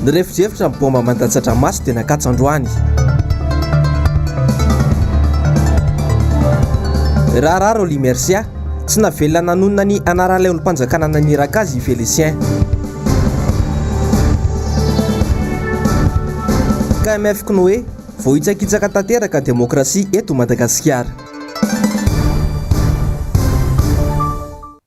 Nirefodrefotra ny baomba mandatsa-dranomaso dia nakatso androany. Raharaha Rolly Mercia, tsy navelona nanonona ny anaran'ilay olom-panjakana naniraka azy i Félicien. KMF Kinoé, voahitsakitsaka tanteraka demokrasia eto Madagasikara.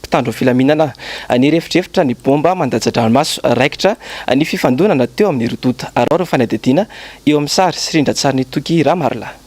mpitandro ny filaminana. Nirefodrefotra ny baomba mandatsa-dranomaso raikitra ny fifandonana teo amin'ny roa tonta. Araho ireo fanadihadiana eo amin'ny sary sy rindran-tsarin'i Toky Ramarilahy.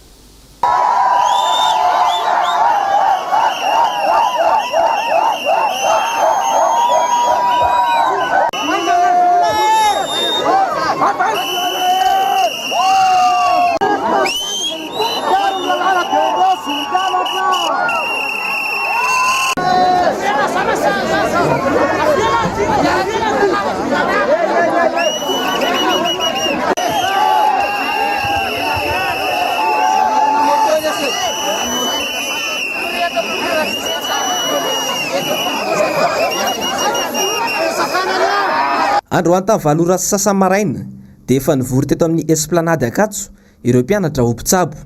Androany tamin'ny valo ora sy sasany maraina dia efa nivory teto amin'ny Esplanade Ankatso ireo mpianatra ho mpitsabo.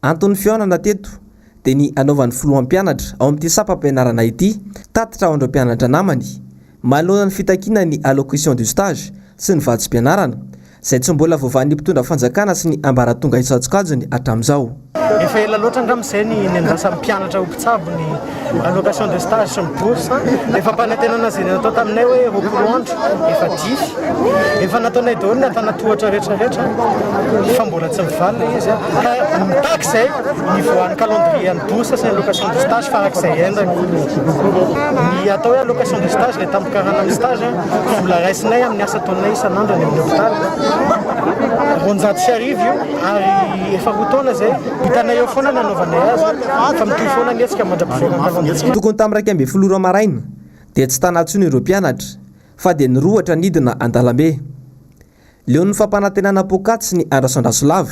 Anton'ny fihaonana teto dia ny hanaovan'ny filoham-pianatra ao amin'ity sampam-pianarana ity tatitra ho an'ireo mpianatra namany manoloana ny fitakiana ny allocution du stage sy ny vatsim-pianarana izay tsy mbola voavahan'ny mpitondra fanjakana sy ny ambaratonga isan-tsokajiny hatramin'izao. Efa ela loatra angamba izay ny niandrasan'ny mpianatra ho mpitsabo ny allocation de stage sy ny bourse efa ampanantenana zay natao taminay hoe roapolo andro efa dify efa nataonay daholo ny antanatohatra rehetra rehetra fa mbola tsy mivaly le izy ka mitaky zay ny voan'ny calendrier an'ny bourse sy ny allocation de stage farak'izay endany ny atao hoe allocation de stage le tampikarana amin'ny stage vola raisinay amin'ny asa ataonay isan'andro any amin'ny hôpital roanjato sy arivo io ary efa roa taona zay Hitanay eo foana ny hanaovanay azy fa mitohy foana ny hetsika mandra-pivoakan-kalon'izay. Tokony tamin'ny iraika ambin'ny folo ora maraina dia tsy tana intsony ireo mpianatra fa dia nirohotra nidina an-dalambe. Leon'ny fampanantenana poakaty ny andrasandraso lava.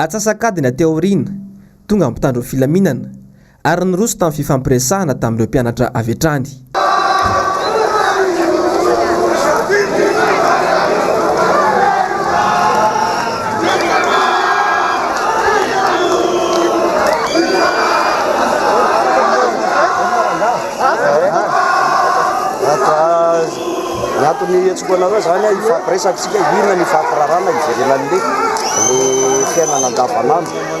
Atsasak'adiny aty aoriana, tonga ny mpitandro ny filaminana, ary niroso tamin'ny fifampiresahana tamin'ireo mpianatra avy hatrany. anareo zany hifampiresaka isika inona ny fampirarana hijerena an'le le fiainana andavanandro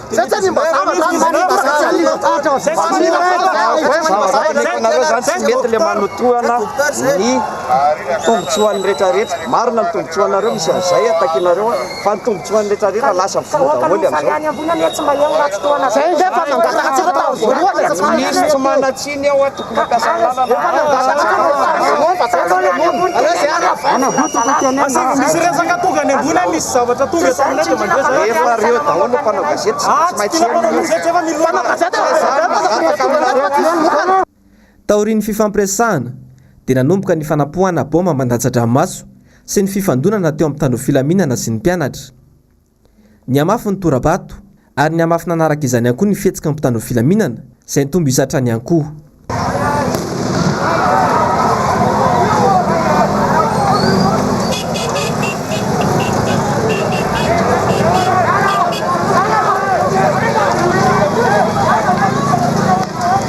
Zay zany mba zavatra zany mba zavatra zany mba zavatra zany nareo zany tsy mety le manotohana ny tombotsoan'ny retraretra marina ny tombotsoanareo misy an'izay atakinareo fa ny tombotsoan'ny retraretra lasa voa daholo amizao zay ndray fa nangataka tsara tao voalohany misy tsy manatsiny ao ato Taorian'ny fifampiresahana, dia nanomboka ny fanapoahana baomba mandatsa-dranomaso sy ny fifandonana teo amin'ny mpitandro filaminana sy ny mpianatra. Nihamafy ny tora-bato ary nihamafy nanaraka izany ihany koa ny fihetsiky ny mpitandro ny filaminana izay nitombo isa hatrany ihany koa.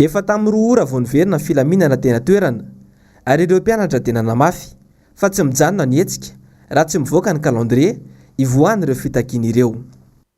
Efa tamin'ny roa ora vao niverina ny filaminana teny an-toerana ary ireo mpianatra dia nanamafy fa tsy mijanona ny hetsika raha tsy mivoaka ny calendrier hivoahan'ireo fitakiana ireo.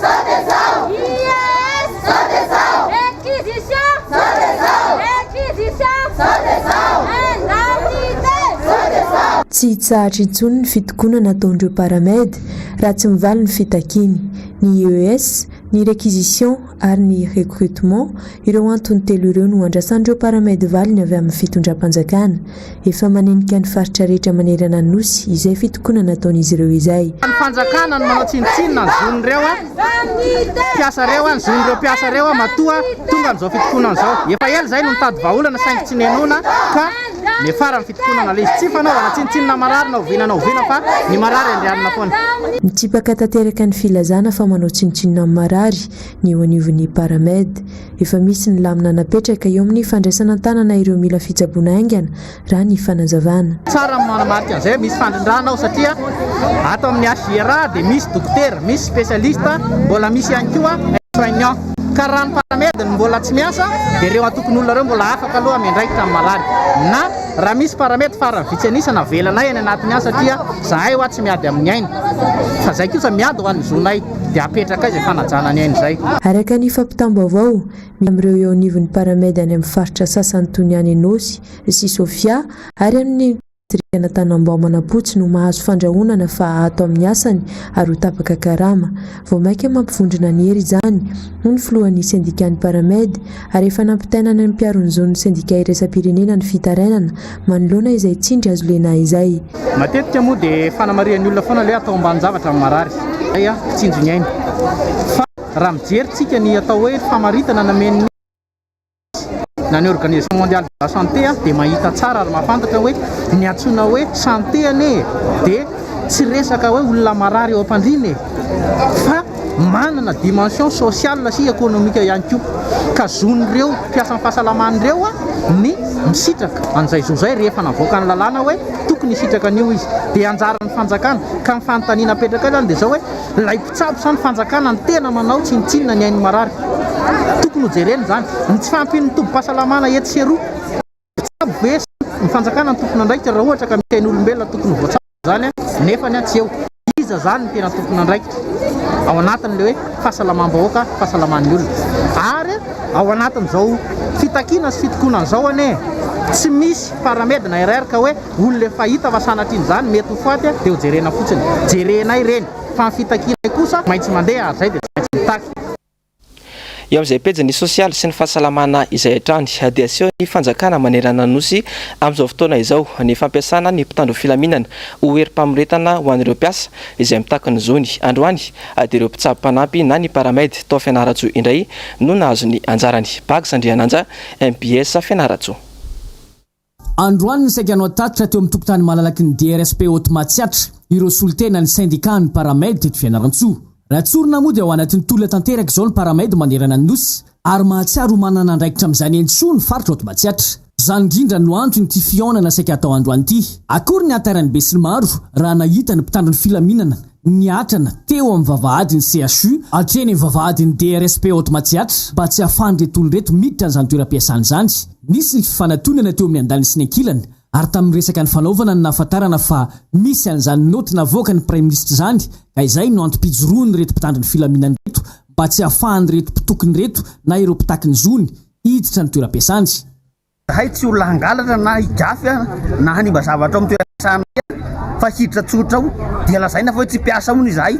Zao dia zao! IES! Zao dia zao! Inquisition! Zao dia zao! Inquisition! Zao dia zao! Indemnité! Zao dia zao! Tsy hitsahatra intsony ny fitokonana ataon'ireo paramed raha tsy mivaly ny fitakiany. Ny IES, ny requisition ary ny recrutement, ireo antony telo ireo no andrasan'ireo paramed valiny avy amin'ny fitondram-panjakana. efa manenika ny faritra rehetra manerana ny Nosy izay fitokonana ataon'izy ireo izay. Ny fanjakana no manao tsinontsinona ny zon'ireo mpiasa ireo, ny zon'ireo mpiasa ireo matoa tonga amin'izao fitokonana izao. Efa ela izay no nitady vahaolana saingy tsy nihenoina ka niafara ny fitokonana. Ilay izy tsy fanaovana tsinontsinona marary na oviana na oviana fa ny marary andrianina foana. Nitsipaka tanteraka ny filazana fa manao tsinontsinona ny marary Ny eo anivon'ny Paramed, efa misy ny lamina napetraka eo amin'ny fandraisana an-tanana ireo mila fitsaboana haingana, raha ny fanazavana. Tsara ny manamarika an'izay, misy fandrindrana ao satria ato amin'ny HJRA dia misy dokotera, misy spécialiste, mbola misy ihany koa soignant. Ka raha ny Paramed no mbola tsy miasa dia ireo antokon'olona ireo mbola afaka aloha miandraikitra amin'ny malady. Na raha misy Paramed farany vitsy an'isa navelanay any anatin'ny any satria zahay hoa tsy miady amin'ny aina fa izay kosa miady ho an'ny zonay. dia apetraka izay fanajana ny aina izay. Araka ny fampitam-baovao, misy amin'ireo eo anivon'ny Paramed any amin'ny faritra sasany toy ny any Anosy sy Sofia ary any amin'ny distrikana Tanambao Manapotsy no mahazo fandrahonana fa ato amin'ny asany ary ho tapaka karama. Vao mainka mampivondrona ny hery izany, hoy ny filohan'ny sendikan'ny Paramed, ary efa nampitainana ny mpiaro ny zon'ny sendika iraisam-pirenena ny fitarainana manoloana izay tsindry azo lena izay. Matetika moa dia fanamarihan'ny olona foana ilay atao ambanin-javatra amin'ny marary izay mpitsinjo ny ainy. Fa raha mijery tsika ny atao hoe famaritana namen'ny OMS na ny Organisation Mondiale de la Santé dia mahita tsara ary mahafantatra hoe ny antsoina hoe santé anie dia tsy resaka hoe olona marary eo am-pandriana e! Fa Manana dimension sociale sy economique ihany koa ka zon'ireo mpiasan'ny fahasalamana ireo ny misitraka an'izay zo izay rehefa navoaka ny lalàna hoe tokony hisitraka an'io izy. Dia anjaran'ny fanjakana. Ka ny fanontaniana apetraka eo izany dia izao hoe ilay mpitsabo sa ny fanjakana no tena manao tsinontsinona ny ain'ny marary? Tokony hojerena izany. Ny tsy fahampian'ny tobim-pahasalamana etsy sy eroa. Tsabo be ny fanjakana ny tompon'andraikitra raha ohatra ka misy ain'olombelona tokony ho voatsabo izany nefa tsy eo. Iza izany ny tena tompon'andraikitra ao anatin'ilay hoe fahasalamam-bahoaka, fahasalaman'ny olona? Ary ao anatin'izao fitakiana sy fitokonana izao anie tsy misy paramed na RR ka hoe olona efa hita fa sanatria izany mety ho faty dia ho jerena fotsiny. Jerenay ireny fa ny fitakianay kosa maintsy mandeha ary izay dia tsy maintsy mitaky. Eo amin'izay pejin'ny sosialy sy ny fahasalamana izay hatrany dia aseho ny fanjakana manerana ny Nosy amin'izao fotoana izao ny fampiasana ny mpitandro filaminana ho herim-pamoretana ho an'ireo mpiasa izay mitaky ny zony. Androany dia ireo mpitsabo mpanampy na ny Paramed tao Fianarantsoa indray no nahazo ny anjarany. Bags Andriananja, mbs Fianarantsoa. Androany ny saika nohatatitra teo amin'ny tokontany malalaky ny DRSP Haute Matsiatra ireo solontenan'ny sendikà ny Paramed teto Fianarantsoa. Raha tsorina moa dia ao anatin'ny tolona tanteraka izao ny Paramed manerana ny Nosy ary mahatsiaro ho manana andraikitra amin'izany eny soa ny faritra Haute Matsiatra. Izany indrindra no antony ity fihaonana saika atao androany ity. Akory ny hantairan'ny besinimaro raha nahita ny mpitandro ny filaminana Niatrana teo amin'ny vavahadin'ny CHU hatreny amin'ny vavahadin'ny DRSP Haute Matsiatra mba tsy hahafahan'ireto olona ireto miditra an'izany toeram-piasana izany. Nisy ny fifanatonana teo amin'ny andaniny sy ny ankilany ary tamin'ny resaka nifanaovana no nahafantarana fa misy an'izany naoty navoakan'ny Praiminisitra izany ka izay no antom-pijoroan'ireto mpitandro ny filaminana ireto mba tsy hahafahan'ireto mpitokona ireto na ireo mpitaky ny zony hiditra ny toeram-piasany Zahay tsy olona hangalatra na higafy na hanimba zavatra ao amin'ny toeram-piasanay aho fa hiditra tsotra ao dia lazaina fa hoe tsy mpiasa hono izahay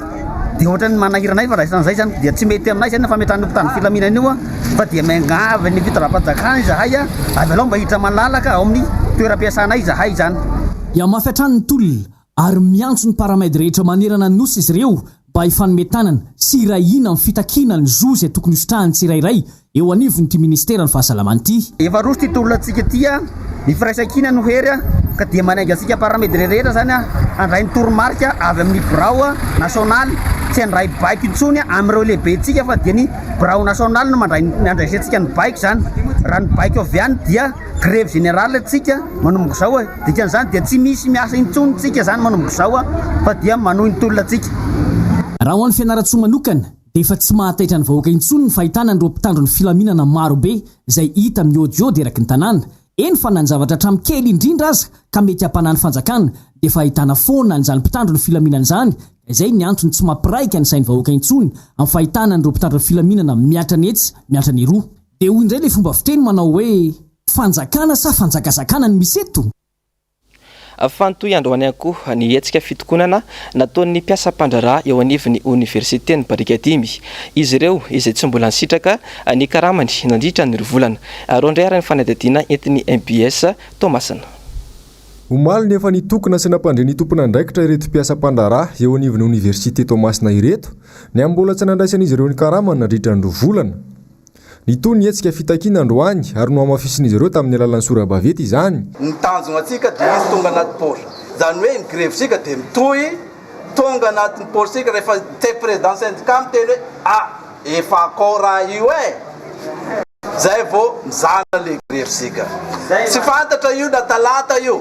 dia ohatran'ny manahira anay fa raisina an'izay izany dia tsy mety aminay izay ny fametrahana io mpitandro filaminana io fa dia miangavy ny fitondram-panjakana izahay avelao mba hiditra malalaka ao amin'ny toeram-piasanay izahay izany. Hihamafy hatrany ny tolona ary miantso ny Paramed rehetra manerana ny Nosy izy ireo mba hifanome tanana sy hiray hina amin'ny fitakiana ny zo izay tokony hositrahan'ny tsirairay eo anivon'ity Ministeran'ny Fahasalamana ity. Efa roso ity tolona antsika ity a! Ny firaisankina no hery a! Ka dia manainga antsika Paramed rehetra izany a! Handray ny toromarika avy amin'ny Birao Nasionaly, tsy handray baiko intsony amin'ireo lehibentsika fa dia ny Birao Nasionaly no mandray ny handraisantsika ny baiko izany, raha ny baiko avy any dia. Grève générale tsika manomboka zao e, dikany zany dia tsy misy miasa intsony tsika zany manomboka zao a, fa dia manohy ny tolona tsika. Raha ho an'i Fianarantsoa manokana dia efa tsy mahataitra ny vahoaka intsony ny fahitana an'ireo mpitandro ny filaminana maro be izay hita miodiody eraky ny tanàna, eny fa na ny zavatra hatramin'ny kely indrindra aza ka mety hampanahy ny fanjakana dia efa ahitana foana an'izany mpitandro ny filaminana izany ka izay ny antony tsy mampiraika ny sain'ny vahoaka intsony amin'ny fahitana an'ireo mpitandro ny filaminana miatrany etsy miatrany eroa. Dia hoy indray ilay fomba fiteny manao hoe, Fanjakana sa fanjakazakana no misy eto? Fantohy androany ihany koa ny hetsika fitokonana nataon'ny mpiasa mpandraharaha eo anivon'ny oniversiten'i Barikadimy. Izy ireo izay tsy mbola nisitraka ny karamany nandritra ny roa volana. Roa indray ary ny fanadihadiana entin'ny mbs Toamasina. Omaly no efa nitokona sy nampandre ny tompon'andraikitra ireto mpiasa mpandraharaha eo anivon'ny oniversite Toamasina ireto, ny amin'ny mbola tsy nandraisan'izy ireo ny karamany nandritra ny roa volana. Nitohy ny hetsika fitakiana androany ary nohamafisin'izy ireo tamin'ny alalan'ny sora-baventy izany. Ny tanjona antsika dia izy tonga anaty port. Izany hoe ny grevitsika dia mitohy tonga anatin'ny portsika rehefa te président syndicat miteny hoe a! efa akao raha io e! izay vao mizana ilay grevitsika. Tsy fantatra io na talata io.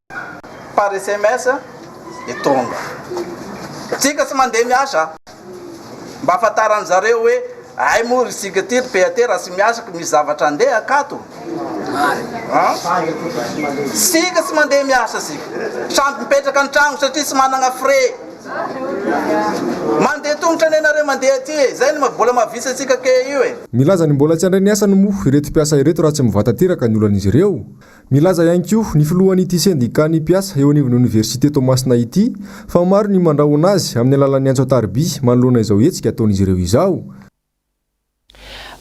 par sms dia tonga. Tsika tsy mandeha miasa mba afantaran'ny zareo hoe hay moa ry sika ty ry PAT raha tsy miasa ka misy zavatra andeha akato an! Sika tsy mandeha miasa sika samy mipetraka an-tragno satria tsy managna frais. Mandeha tongotra anie nareo mandeha aty e! Zay ny vola mahavitsy antsika ke io e! Milaza ny mbola tsy handray ny asany moa ireto mpiasa ireto raha tsy mivanta-teraka ny olan'izy ireo Nilaza ihany koa ny filohan'ity sendikàn'ny mpiasa eo anivon'ny oniversite Toamasina ity fa maro ny mandrahona azy amin'ny alalan'ny antso an-tariby manoloana izao hetsika ataon'izy ireo izao.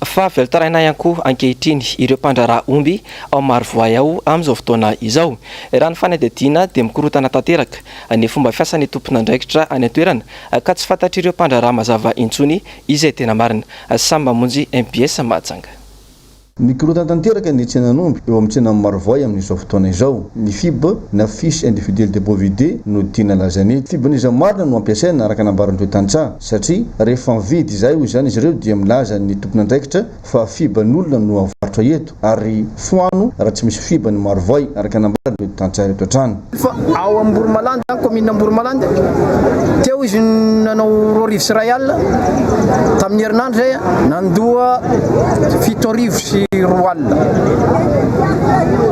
Fa velon-taraina ihany koa ankehitriny ireo mpandraharaha omby ao Marovoay ao amin'izao fotoana izao. Raha ny fanadihadiana dia mikorontana tanteraka ny fomba fiasan'ny tompon'andraikitra any an-toerana ka tsy fantatr'ireo mpandraharaha mazava intsony izay tena marina. Samy mamonjy mbs Mahajanga. Mikorontana tanteraka ny tsenan'omby eo amin'ny tsenan'i Marovoay amin'izao fotoana izao. Ny fib, na Fiche Individuelle des Bovidae, no tiana lazaina eto. Fibon'iza marina no ampiasaina, araka nambaran'ireo tantsaha? Satria rehefa mividy izay hoy izany izy ireo dia milaza ny tompon'andraikitra fa fiban'olona no avarotra eto, ary foano raha tsy misy fiban'i Marovoay, araka nambaran'ireo tantsaha ireto hatrany. Fa ao Amboromalandy zany, commune Amboromalandy, teo izy nanao roa arivo sy iray alina, tamin'ny herinandro izay nandoa fito arivo sy roa alina,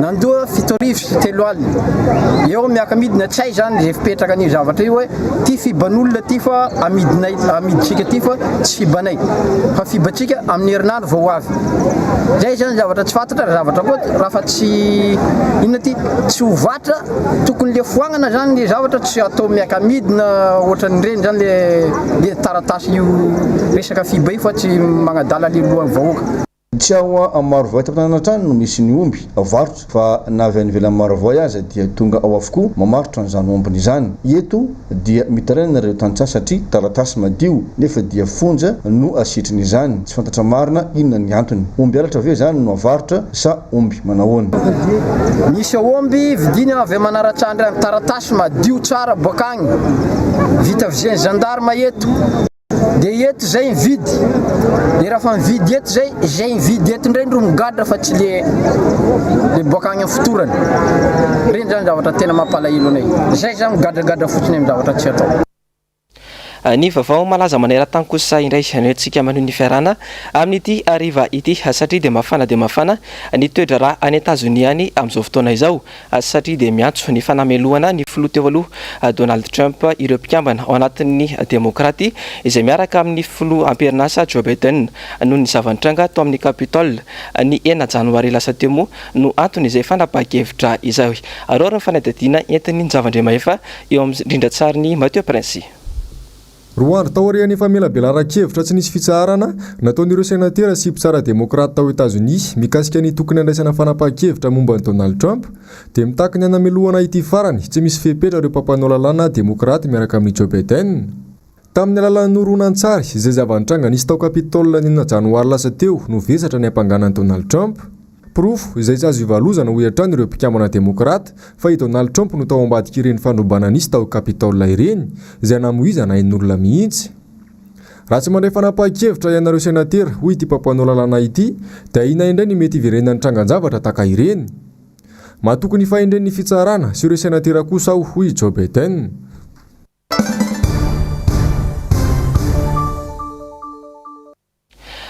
nandoa fito arivo sy telo alina, eo miaka-midina tsy hay zany izay fipetraka an'io zavatra io hoe ty fiban'olona ty fa amidinay, amidintsika ty fa tsy fibanay, fa fibantsika amin'ny herinandro. vao avy zay zany zavatra tsy fatatra ra zavatra koa raha fa tsy inona ty tsy ho vatra tokony le foagnana zany le zavatra tsy atao miakamidina ohatran'ireny zany le le taratasy io resaka fiba io fa tsy magnadala le lohan'ny vahoaka. Tsy ao Amaro Vohitra Tanàna hatrany no misy ny omby, varotra. Fa na avy any ivelan'i Marovoay aza dia tonga ao avokoa mamaritra an'izany ombiny izany. Eto dia mitaraina ireo tantsaha satria taratasy madio nefa dia fonja no asitriny izany. Tsy fantatra marina inona ny antony. Omby halatra ve izany no avarotra sa omby manahoana? Misy aomby vidiana avy manaratsy andry any taratasy madio tsara boak'agny vita vizian'ny gendarme eto. De eto zay mividy de rafa mividy eto zay zay mividy eto ndray ndro migadra fa tsy le le boaka agny am fotorany regny zany zavatra tena mampalahelo anay zay za migadragadra fotsiny am zavatra tsy atao. Ny vaovao malaza maneran-tany kosa indray no entintsika maneho ny fiarahana amin'ity hariva ity satria dia mafana dia mafana ny toedraharaha any Etazonia any amin'izao fotoana izao. satria dia miantso ny fanamelohana ny filoha teo aloha Donald Trump ireo mpikambana ao anatin'ny Demokraty izay miaraka amin'ny filoha amperin'asa Joe Biden noho ny zava-nitranga tao amin'ny Capitol ny enina janoary lasa teo moa no anton'izay fanapahan-kevitra izay. Araho ny fanadihadiana entin'i Njavandriamahefa eo amin'ny rindran-tsarin'i Mathieu Prince. Roa andro taorian'ny famelabelaran-kevitra tsy nisy fitsaharana nataon'ireo senatera sy mpitsara demokraty tao Etazonia mikasika ny tokony handraisana fanapahan-kevitra momba an'i Donald Trump, dia mitaky ny hanamelohana ity farany tsy misy fepetra ireo mpampanao lalàna demokraty miaraka amin'i Joe Biden. Tamin'ny alalan'ny horonantsary izay zava-nitranga nisy tao Capitol ny enina Janoary lasa teo no vesatra ny hampangana an'i Donald Trump. Porofo izay tsy azo ivalozana hoy hatrany ireo mpikambana demokrata fa i Donald Trump no tao ambadik'ireny fandrobana nisy tao Capitol ireny izay namoizana ain'olona mihitsy. Raha tsy mandray fanapahan-kevitra ianareo senatera hoy ity mpampanao lalàna ity dia ahiana indray ny mety hiverenan'ny trangan-javatra taka ireny. Matoky ny fahendren'ny fitsarana sy ireo senatera kosa aho hoy i Joe Biden.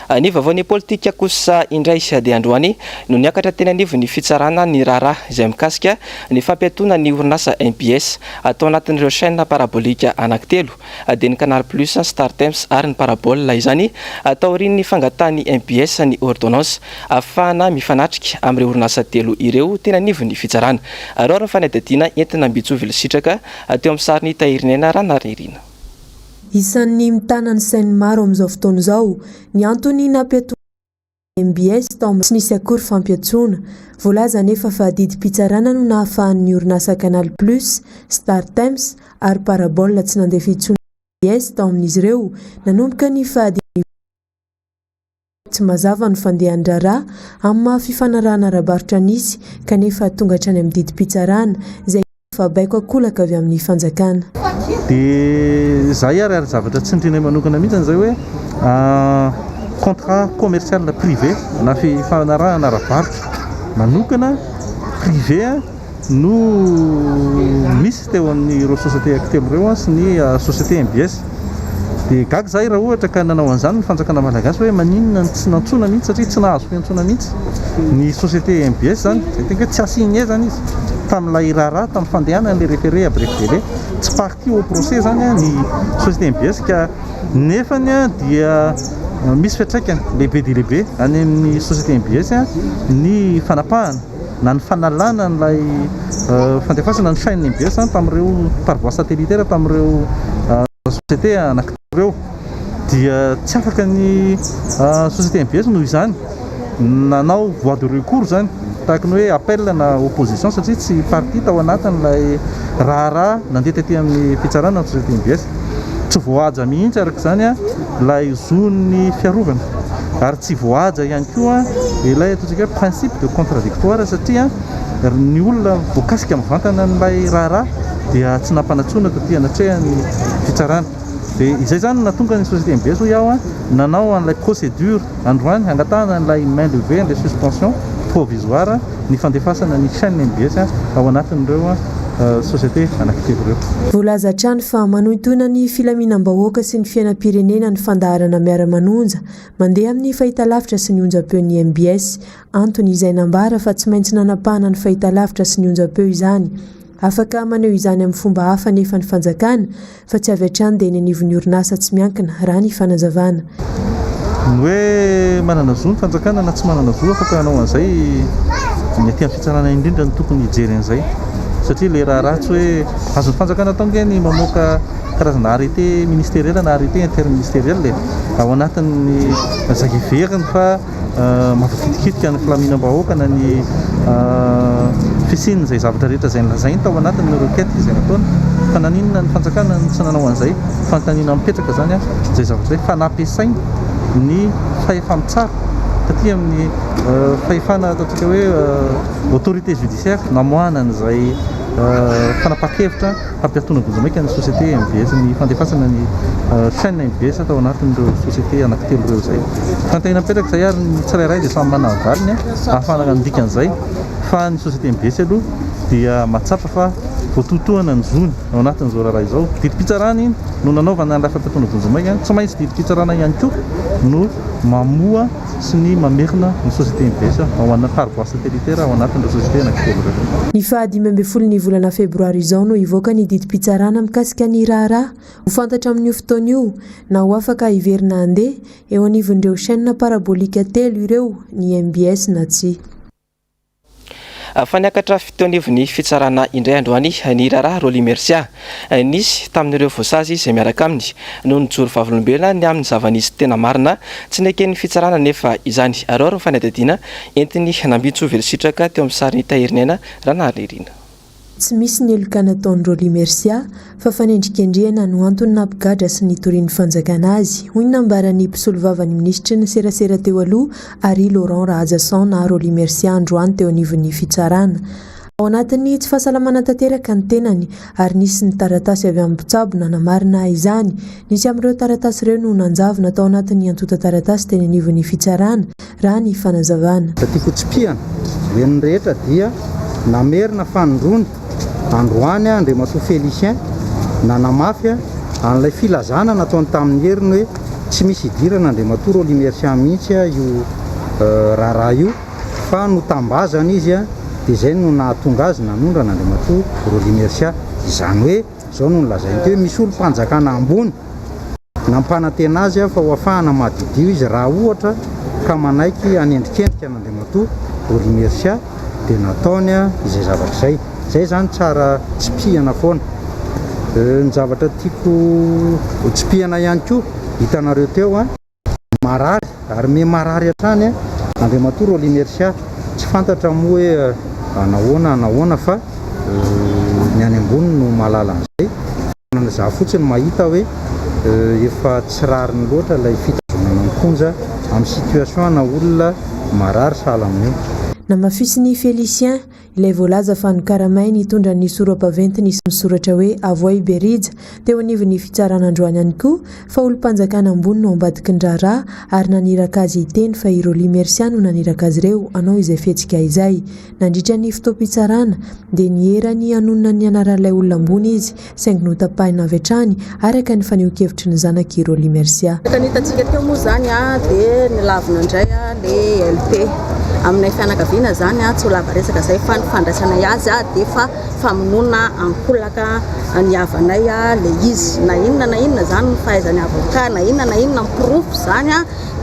Ny vaovao nepolitika kosa indray dia androany no niakatra teny anivon'ny fitsarana ny raharaha izay mikasika ny fampiatoana ny orinasa mbs tao anatin'ireo chaine parabolika anankitelo dia ny canal plus, startimes ary ny parabole izany taorian'ny fangatahan'ny mbs ny ordonnance afahana mifanatrika amin'ireo orinasa telo ireo teny anivon'ny fitsarana. Araho ny fanadihadiana entina Mbitsovilo Sitraka teo amin'ny sarin'i Tahirinaina Ranariniaina. Isan'ny mitana ny sain'ny maro amin'izao fotoana izao ny antony nampiatoana ny mbs tao amin'ny tsy nisy akory fampiantsoana. Voalaza anefa fa didim-pitsarana no nahafahan'ny orinasa Canal Plus, Star Times ary Parabole tsy nandefa intsony ny mbs tao amin'izy ireo nanomboka ny fahadimy volana. Tsy mazava ny fandehan-draharaha amin'ny maha fifanarahana ara-barotra nisy kanefa tonga hatrany amin'ny didim-pitsarana izay hita fa baiko an-kolaka avy amin'ny fanjakana. Dia zay ary, ary zavatra tsy nitrinay manokana mihitsy izay hoe contrat commercial privé na fifanarahana ara-barotra manokana privé. no misy teo amin'ireo sociétés acteurs ireo sy ny société MBS dia gaga izahay raha ohatra ka nanao an'izany ny fanjakana malagasy hoe maninona no tsy nantsoina mihitsy satria tsy nahazo fiantsoana mihitsy ny société MBS izany izay tena hoe tsy assignée izany izy tamin'ilay raharaha tamin'ny fandehanan'ilay référé à bref délai tsy partie au procès izany ny société MBS ka nefany dia misy fiantraikany lehibe dia lehibe any amin'ny société MBS ny fanapahana na ny fanalana an'ilay fandefasana ny chaîne mbs tamin'ireo par voie satellitaire tamin'ireo société anankitelo ireo dia tsy afaka ny société mbs noho izany nanao voie de recours izany tahaka ny hoe appel na opposition satria tsy partie tao anatin'ilay raharaha nandeha taty amin'ny fitsarana ny société mbs Tsy voahaja mihitsy araka izany ilay zon'ny fiarovana ary tsy voahaja ihany koa ilay ataontsika hoe principe de contradictoire satria ny olona voakasika mivantana an'ilay raharaha dia tsy nampanantsoina taty anatrehan'ny fitsarana. Dia izay izany no nahatonga ny société MBS hoy aho nanao an'ilay procédure Androany, hangatahana an'ilay main levée an'ilay suspension provisoire ny fandefasana ny chaîne mbs ao anatin'ireo société anankitelo ireo. Voalaza hatrany fa manohintohina ny filaminam-bahoaka sy ny fiainam-pirenena ny fandaharana Miara-manonja, mandeha amin'ny fahitalavitra sy ny onjam-peon'ny mbs, Antony izay nambara fa tsy maintsy nanapahana ny fahitalavitra sy ny onjampeo izany. Afaka maneho izany amin'ny fomba hafa anefa ny fanjakana fa tsy avy hatrany dia eny anivon'ny orinasa tsy miankina, raha ny fanazavana. Ny hoe manana zo ny fanjakana na tsy manana zo afaka hanao an'izay ny aty amin'ny fitsarana indrindra no tokony hijery an'izay satria ilay raharaha tsy hoe azon'ny fanjakana atao ange ny mamoaka karazana arrêté ministériel na arrêté interministériel e, ao anatin'ny izay heveriny fa Mampikitikitika ny filaminam-bahoaka na ny fisian'izay zavatra rehetra izay nolazainy tao anatin'ireo requête izay nataony. Fa naninona ny fanjakana no tsy nanao an'izay? Fanontaniana mipetraka izany an! Izay zavatra izay fa nampiasainy ny fahefa-mitsara taty amin'ny fahefana ataontsika hoe autorité judiciaire namoahana an'izay fanapahan-kevitra. Hampiatoana vonjimaika ny société mbs ny fandefasana ny chaîne mbs tao anatin'ireo société anankitelo ireo izay tantehina mipetraka izay ary ny tsirairay dia samy manana ny valiny ahafahana mandika an'izay fa ny société mbs aloha dia mahatsapa fa voatohitohana ny zony ao anatin'izao raharaha izao. Didim-pitsarana iny no nanaovana an'ilay fampiatoana vonjimaika, tsy maintsy didim-pitsarana ihany koa no mamoha sy ny mamerina ny société Inbes ao an par voie satellitaire ao anatin'ireo société anankitelo ireo. Ny faha dimy ambin'ny folo ny volana febroary izao no hivoaka ny didim-pitsarana mikasika ny raharaha. Ho fantatra amin'io fotoana io na ho afaka hiverina handeha eo anivon'ireo chaînes paraboliques telo ireo ny Inbes na tsia. Fa niakatra teo anivon'ny fitsarana indray androany ny raharaha Rolly Mercia. Nisy tamin'ireo voasazy izay miaraka aminy no nijoro vavolombelona ny amin'ny zava-nisy tena marina. Tsy neken'ny fitsarana anefa izany. Araho ny fanadihadiana entiny nambintsovely sitraka teo amin'ny sarin'i Tahirinaina Ranariniaina. Tsy misy ny heloka nataon'i Rolly Mercia fa fanendrikendrehana no antony nampigadra sy nitorian'ny fanjakana azy, hoy ny nambaran'ny mpisolovavan'ny minisitry ny serasera teo aloha, Harry Laurent Rahajason ahy Rolly Mercia androany teo anivon'ny fitsarana. Ao anatin'ny tsy fahasalamana tanteraka ny tenany ary nisy ny taratasy avy amin'ny mpitsabo nanamarina izany. Nisy amin'ireo taratasy ireo no nanjavona tao anatin'ny antontan-taratasy teny anivon'ny fitsarana. raha ny fanazavana. Raha tiako hotsipihana, henon'ny rehetra dia namerina fanindroany androany Andriamatoa Félicien nanamafy an'ilay filazana nataony tamin'ny heriny hoe tsy misy hidirana Andriamatoa Rolly Mercian mihitsy io raharaha io fa notambazana izy dia izay no nahatonga azy nanondrana Andriamatoa Rolly Mercian. Izany hoe. Izao no nolazainy teo, Misy olom-panjakana ambony nampanantena azy aho fa ho afahana mahadidio izy raha ohatra ka manaiky hanendrikendrika an'Andriamatoa Bory Mercia dia nataony izay zavatra izay. Izay izany tsara tsipihana foana. Ny zavatra tiako ho tsipihana ihany koa, hitanareo teo an. marary ary miha marary hatrany Andriamatoa Rolinersia, tsy fantatra moa hoe hanahoana hanahoana fa ny any ambony no mahalala an'izay, tanana izaho fotsiny mahita hoe efa tsy rariny loatra ilay fitazonana am-ponja amin'ny situation ana olona marary sahala amin'io. Namafisin'i Félicien, Ilay voalaza fa nokaramainy hitondra ny soro-baventy nisy misoratra hoe Avoay Berija teo anivon'ny fitsarana androany ihany koa fa olom-panjakana ambony no ambadiky ny raharaha ary naniraka azy hiteny fa i Rolly Mercia no naniraka azy ireo hanao izay fihetsika izay. Nandritra ny fotoam-pitsarana dia nihera ny hanonona ny anaran'ilay olona ambony izy saingy notapahina avy hatrany araka ny fanehoan-kevitry ny zanaky i Rolly Mercia. Araka ny hitantsika teo moa izany dia nilavina indray ilay LP. Aminay fianakaviana izany tsy ho lava resaka izay fa ny fandraisanay azy dia efa famonoana ankolaka ny havanay ilay izy. Na inona na inona izany ny fahaizan'ny avocat, na inona na inona ny porofo izany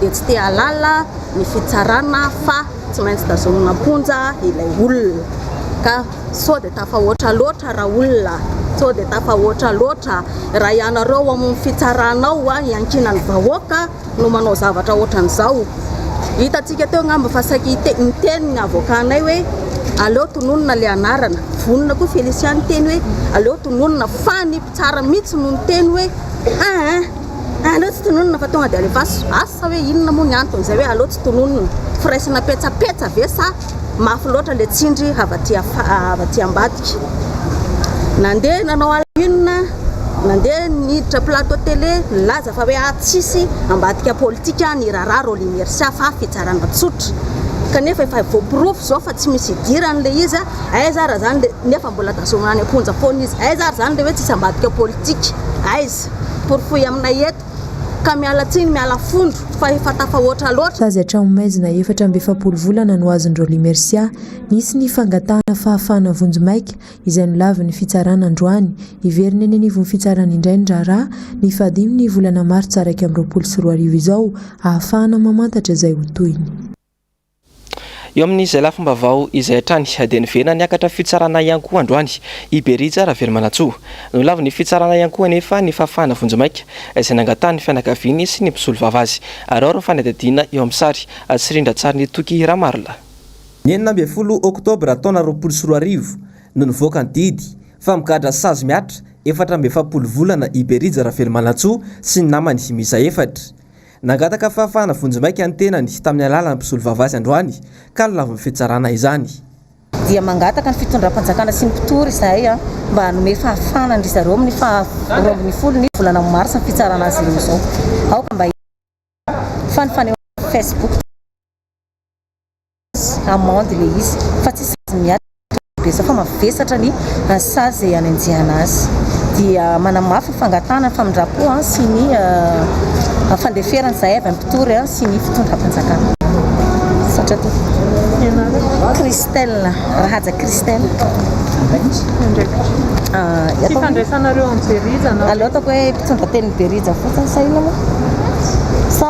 dia tsy te hahalala ny fitsarana fa tsy maintsy tazomina am-ponja ilay olona. sao dia tafahoatra loatra ra olona sao dia tafahoatra loatra ra ianareo ao amin'ny fitsarana ao a iankinan'ny vahoaka no manao zavatra ohatran'izao hitantsika teo angamba fa saiky miteny ny avokanay hoe aleo tononina le anarana vonona koa Felicia ny teny hoe aleo tononina fa ny mpitsara mihitsy no ny teny hoe aa aleo tsy tononina fa tonga dia alefaso asa hoe inona moa ny anton'izay hoe aleo tsy tononina firaisana petsapetsa ve sa Mafy loatra le tsindry avy aty avy aty ambadika. Nandeha nanao à la une, nandeha niditra plateau télé nilaza fa hoe ato tsisy ambadika politika ny raharaha Rolly Mercia fa fitsarana tsotra. Kanefa efa voaporofo izao fa tsy misy idirany le izy, aiza ary zany le nefa mbola tazomina any am-ponja foana izy. Aiza ary zany le hoe tsisy ambadika politika? Aiza? Porofoy aminay eto. ka miala tsiny miala fondro fa efa tafahoatra loatra. Sazy hatramin'ny maizina efatra amby efapolo volana no azon-dRaoly Mercia. Nisy ny fangatahana fahafahana vonjimaika, izay nolavin'ny fitsarana androany. Hiverina eny anivon'ny fitsarana indray ny raharaha, ny fahadimy ny volana martsa iraika amby roapolo sy roa arivo izao, ahafahana mamantatra izay ho tohiny. Eo amin'izay lafim-baovao izay hatrany dia niverina niakatra fitsarana ihany koa androany i Berija Ravelomanantsoa. Nolavin'ny fitsarana ihany koa anefa ny fahafahana vonjimaika izay nangatahan'ny fianakaviany sy ny mpisolovava azy. Araho ny fanadihadiana eo amin'ny sary sy rindran-tsarin'i Toky Ramarolahy. Ny enina ambin'ny folo oktobra taona roapolo sy roa arivo no nivoaka ny didy fa migadra sazy mihatra efatra amby efapolo volana i Berija Ravelomanantsoa sy ny namany miisa efatra. Nangataka fahafahana vonjimaika ny tenany tamin'ny alalan'ny mpisolovava azy androany ka nolavin'ny fitsarana izany. dia mangataka ny fitondram-panjakana sy ny mpitory izahay mba hanome fahafahana an-dry zareo amin'ny faha roa ambin'ny folo ny volana marsa ny fitsarana azy ireo izao. Aoka mba hilaza fa ny fanehoana tao amin'ny facebook dia. amende ilay izy fa tsy sazy miady tombokambesa fa mavesatra ny sazy izay hanenjehana azy dia manamafy ny fangatahana ny famindram-po sy ny fandeferana izay avy amin'ny mpitory sy ny fitondram-panjakana Christelle Rahaja Christelle ah, tsy fandraisanareo amin'ny Berija na aleo ataoko hoe mpitondra teny Berija fotsiny sa inona moa sa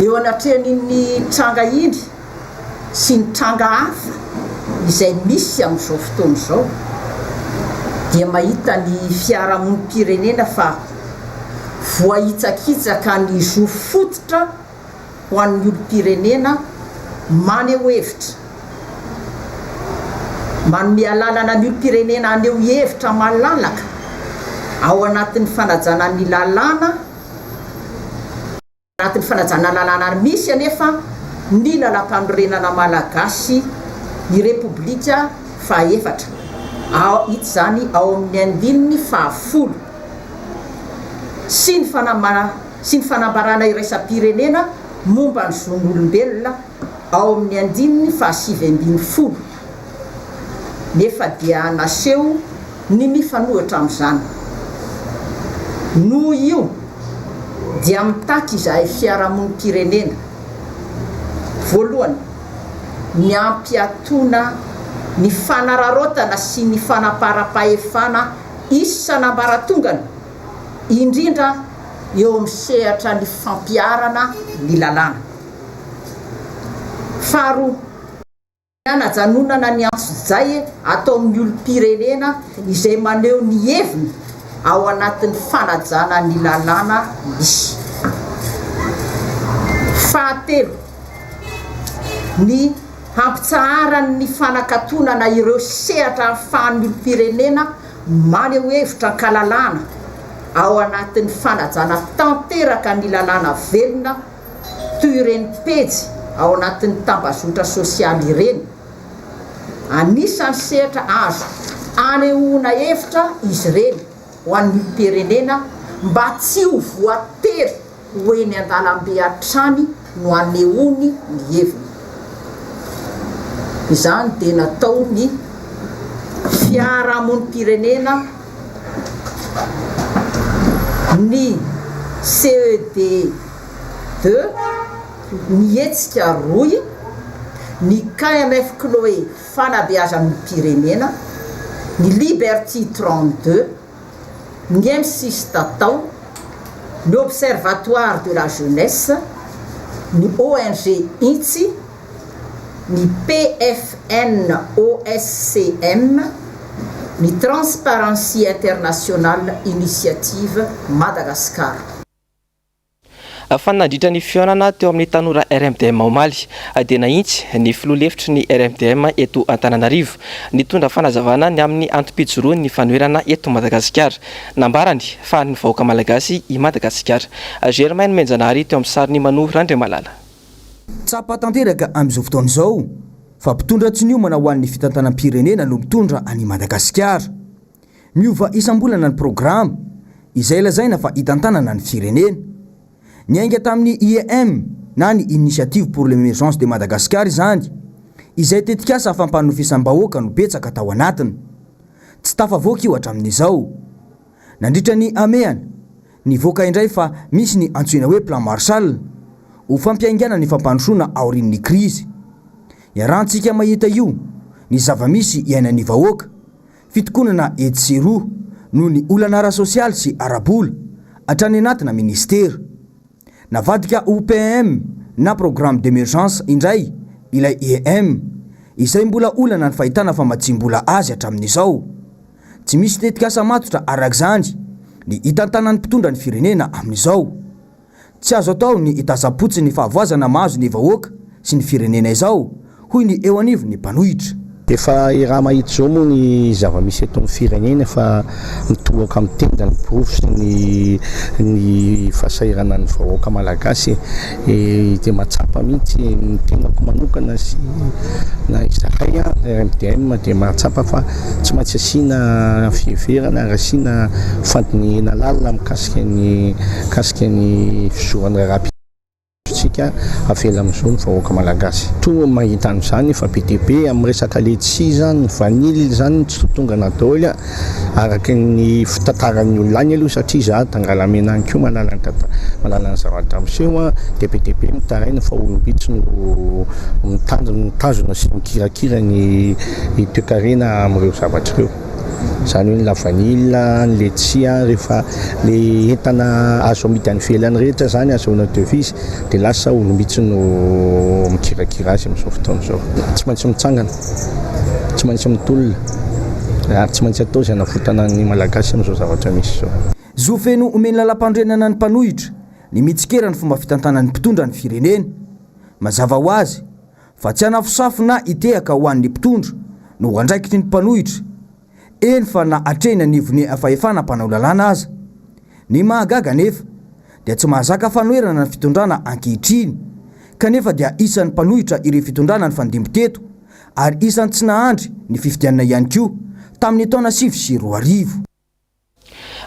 Eo anatrehan'iny tranga iny sy ny tranga hafa izay misy amin'izao fotoana izao dia mahita ny fiarahamonim-pirenena fa voahitsakitsaka ny zo fototra ho an'ny olom-pirenena maneho hevitra, manome alalana ny olom-pirenena haneho hevitra malalaka ao anatin'ny fanajana ny lalàna Anatin'ny fanajana lalàna ary misy anefa ny Lalàmpanorenana Malagasy ny Repoblika fahaefatra, ao hita izany ao amin'ny andininy fahafolo, sy ny sy ny fanambarana iraisam-pirenena momba ny zon'olombelona, ao amin'ny andininy fahasivy ambin'ny folo, nefa dia naseho ny mifanohitra amin'izany. Noho io dia mitaky izahay fiarahamonim-pirenena, voalohany, ny hampiatoana ny fanararaotana sy ny fanaparam-pahefana isan'ambaratongany, indrindra eo amin'ny sehatra ny fampiharana ny lalàna. Faharoa, ny hanajanonana ny antsojay ataon'ny olom-pirenena izay maneho ny heviny ao anatin'ny fanajana ny lalàna misy. Fahatelo, ny hampitsaharan'ny fanakatonana ireo sehatra ahafahan'ny olom-pirenena maneho hevitra an-kalalahana ao anatin'ny fanajana tanteraka ny lalàna velona, toy ireny pejy ao anatin'ny tambazotra sosialy ireny. Anisan'ny sehatra azo anehoana hevitra izy ireny ho an'ny olom-pirenena mba tsy ho voatery ho eny an-dalambe hatrany no anehoany ny heviny. Izany dia nataon'ny fiarahamonim-pirenena. Ny CED deux Ny hetsika rohy Ny KMF Chloé Fanabeazan'olom-pirenena Ny Liberty trente deux Ny Mcis Tatao Ny Observatoire de la Jeunesse Ny ONG Intsy ny PFN OSCM, ny Transparency International Initiative Madagascar. Fa nandritra ny fihaonana teo amin'ny tanora RMDM omaly dia nahitsy ny filoha lefitry ny RMDM eto Antananarivo nitondra fanazavana ny amin'ny antom-pijoroan'ny fanoherana eto Madagasikara. Nambarany fa an'ny vahoaka malagasy i Madagasikara. Germaine Menjanahary teo amin'ny sarin'i Mano Randriamalala. Tsapa tanteraka amin'izao fotoana izao fa mpitondra tsy niomana ho an'ny fitantanam-pirenena no mitondra an'i Madagasikara. Miova isam-bolana ny programa izay lazaina fa hitantanana ny firenena. Niainga tamin'ny IEM na ny Initiative pour l'Emergence de Madagascar izany izay tetikasa fampanofisam-bahoaka no betsaka tao anatiny. Tsy tafavoaka io hatramin'izao. Nandritra ny hamehana, nivoaka indray fa misy ny antsoina hoe Plan Marshall ho fampiaingana ny fampandrosoana aorian'ny krizy. Iarahantsika mahita io ny zava-misy iainan'ny vahoaka, fitokonana etsy sy eroa noho ny olana ara-sosialy sy ara-bola, hatrany anatina minisitera. Navadika ho PEM na Programme d'Emergence indray ilay EM, izay mbola olana ny fahitana famatsiam-bola azy hatramin'izao. Tsy misy tetikasa matotra araka izany ny hitantanan'ny mpitondra ny firenena amin'izao. Tsy azo atao ny hitazam-potsiny ny fahavoazana mahazo ny vahoaka sy ny firenena izao, hoy ny eo anivon'ny mpanohitra. Efa Irama Ijo moa ny zava-misy eto amin'ny firenena fa mitohoka amin'ny tenda ny porofo sy ny ny fahasahiranan'ny vahoaka malagasy e! dia mahatsapa mihitsy ny tenako manokana sy na izahay RMDM dia mahatsapa fa tsy maintsy asiana fiheverana ary asiana fandinihina lalina mikasika ny mikasika ny fizoran'ny raharaham-pirenena. tsika avela amizao ny vahoaka malagasy to mahita anizany fa be dia be am resaka letchis zany vanille zany tsy tongana daoly a araka ny fitantaran'ny olona any aloha satria za tangalamena any ko manana ny tanta manana ny zavatra miseho a dia be dia be mitaraina fa olombitsy no mitazona sy mikirakira ny toekarena am'ireo zavatra ireo. Izany hoe ny lavanila, ny letchia, rehefa le entana azo amidy any ivelany rehetra zany azahoana devise dia lasa olo mihitsy no mikirakira azy amin'izao fotoana izao. Tsy maintsy mitsangana, tsy maintsy mitolona ary tsy maintsy atao izay hanavotana ny Malagasy amin'izao zavatra misy izao. Zo feno omen'ny Lalampanorenana ny mpanohitra ny mitsikera ny fomba fitantanan'ny mpitondra ny firenena. Mazava ho azy, fa tsy hanafosafona hitehaka ho an'ny mpitondra no andraikitry ny mpanohitra, eny fa na hatreny anivon'ny fahefana mpanao lalàna aza. Ny mahagaga anefa dia tsy mahazaka fanoherana ny fitondrana ankehitriny, kanefa dia isan'ny mpanohitra ireo fitondrana nifandimby teto ary isan'ny tsy nahandry ny fifidianana ihany koa tamin'ny taona sivy sy roa arivo.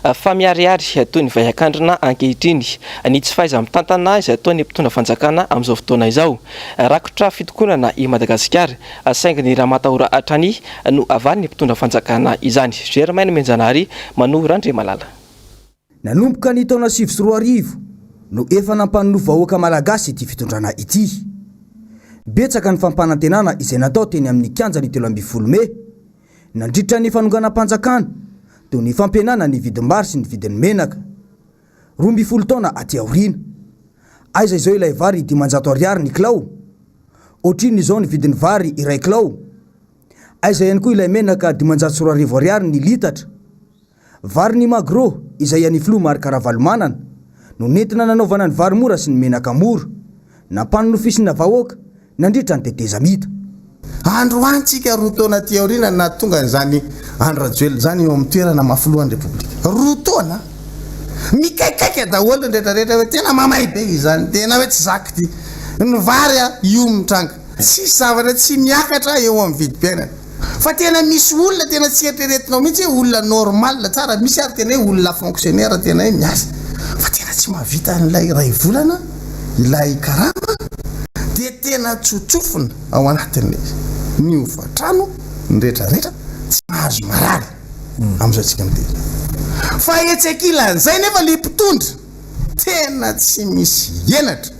Fa miharihary toy ny vaihan-kandrina ankehitriny ny tsy fahaiza-mitantana izay ataon'ny mpitondra fanjakana amin'izao fotoana izao. Rakotra fitokonana i Madagasikara, saingy ny ramatahora hatrany no havalin'ny mpitondra fanjakana izany. Germaine Mianjanahary, Manou Randriamalala. Nanomboka ny taona sivy sy roa arivo no efa nampanonofy vahoaka malagasy ity fitondrana ity. Betsaka ny fampanantenana izay natao teny amin'ny kianjan'ny telo ambin'ny folo mey Nandritra ny fanonganam-panjakana, toy ny fampihenana ny vidim-bary sy ny vidin'ny menaka, roa ambin'ny folo taona aty aoriana. Aiza izao ilay vary dimanjato ariary ny kilao? Ohatrinona izao ny vidin'ny vary iray kilao? Aiza ihany koa ilay menaka dimanjato sy roa arivo ariary ny litatra? Vary ny Magro, izay an'ny Filoha Marc Ravalomanana, no nentina nanaovana ny vary mora sy ny menaka mora. Nampanonofisina vahoaka, nandritra ny tetezamita. Andro any tsika roa taona aty aoriana no nahatonga an'izany Andry Rajoelina izany eo amin'ny toerana maha Filohan'ny Repoblika. Roa taona! Mikaikaika daholo ny rehetra rehetra hoe tena mamay be izany, tena hoe tsy zakdy ny vary io mitranga. Tsisy zavatra tsy miakatra eo amin'ny vidim-piainana. Fa tena misy olona tena tsy eritreretinao mihitsy hoe olona normal tsara, misy ary tena hoe olona fonctionnaire tena hoe miasa fa tena tsy mahavita an'ilay iray volana ilay karama dia tena tsotsofina ao anatin'ny ny hofan-trano ny rehetra rehetra tsy mahazo marary amin'izao tsika miteny fa etsy ankilan'izay nefa ilay mpitondra tena tsy misy henatra.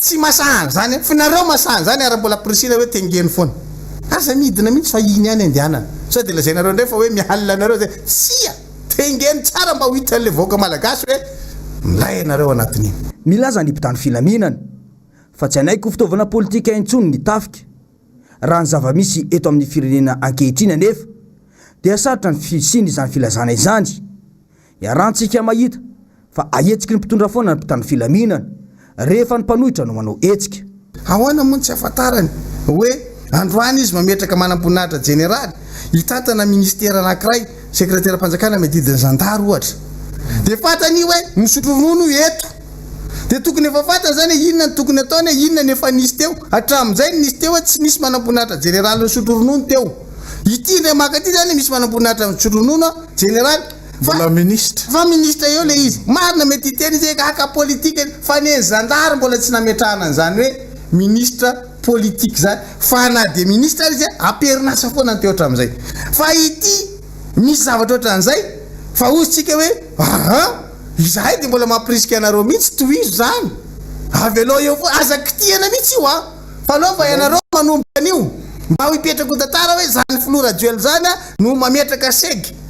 Tsy masaha an'izany an! Finareo masaha an'izany ary mbola ampirisihina hoe tengeno foana. Aza midina mihitsy fa iny ihany andehanana. Sao dia lazainareo indray fa hoe mihalina anareo izay. Tsia! Tengeno tsara mba ho hitan'ilay vahoaka malagasy hoe milay ianareo anatin'iny. Milaza ny mpitandro filaminana fa tsy hanaiky ho fitaovana politika intsony ny tafika. Raha ny zava-misy eto amin'ny firenena ankehitriny anefa dia sarotra ny fisian'izany filazana izany. Iarahantsika mahita fa ahetsiky ny mpitondra foana ny mpitandro filaminana rehefa ny mpanohitra no manao hetsika. Ahoana moa no tsy ahafantarany hoe androany izy mametraka manamboninahitra jeneraly hitantana minisitera anankiray, sekreteram-panjakana miadidy ny zandary ohatra. Dia fantany hoe misotro ronono io eto. Dia tokony efa fantany izany hoe inona no tokony ataony hoe inona no efa nisy teo. Hatramin'izay no nisy teo hoe tsy nisy manamboninahitra jeneraly nisotro ronono teo. Ity indray maka ity izany misy manamboninahitra misotro ronono jeneraly. Mbola ministra. Fa ministra eo le izy. Marina mety hiteny izy hoe gaka politika izy fa ny an'ny zandary mbola tsy nametrahana an'izany hoe ministra politika izany fa na dia ministra ary izy am-perinasa foana ny teo hatramin'izay. Fa ity misy zavatra ohatran'izay fa hoy isika hoe aa izahay dia mbola mampirisika anareo mihitsy tohizo izany avelao eo foana aza kitihana mihitsy io a fa aleo fa ianareo manomboka an'io mba ho hipetraka ho tantara hoe izany filoha Rajoelina izany no mametraka seg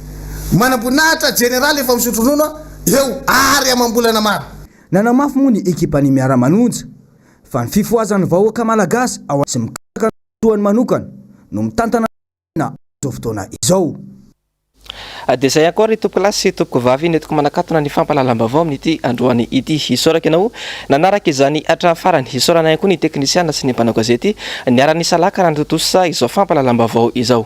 Manamboninahitra Jeneraly efa misotro ronono eo ary amam-bolana maro. Nanamafy moa ny ekipan'ny Miara-manonja fa ny fifohazan'ny vahoaka Malagasy ao sy mikatsaka ny filohan'ny manokana no mitantana ny firenena amin'izao fotoana izao. Dia izay ihany koa ry tompoko lahy sy tompoko vavy nentiko manakatona ny fampahalalam-baovao amin'ity androany ity. Hisaoraka ianao nanaraka izany hatramin'ny farany. Hisaorana ihany koa ny teknisiana sy ny mpanao gazety niara-nisalahy ka nanatontosa izao fampahalalam-baovao izao.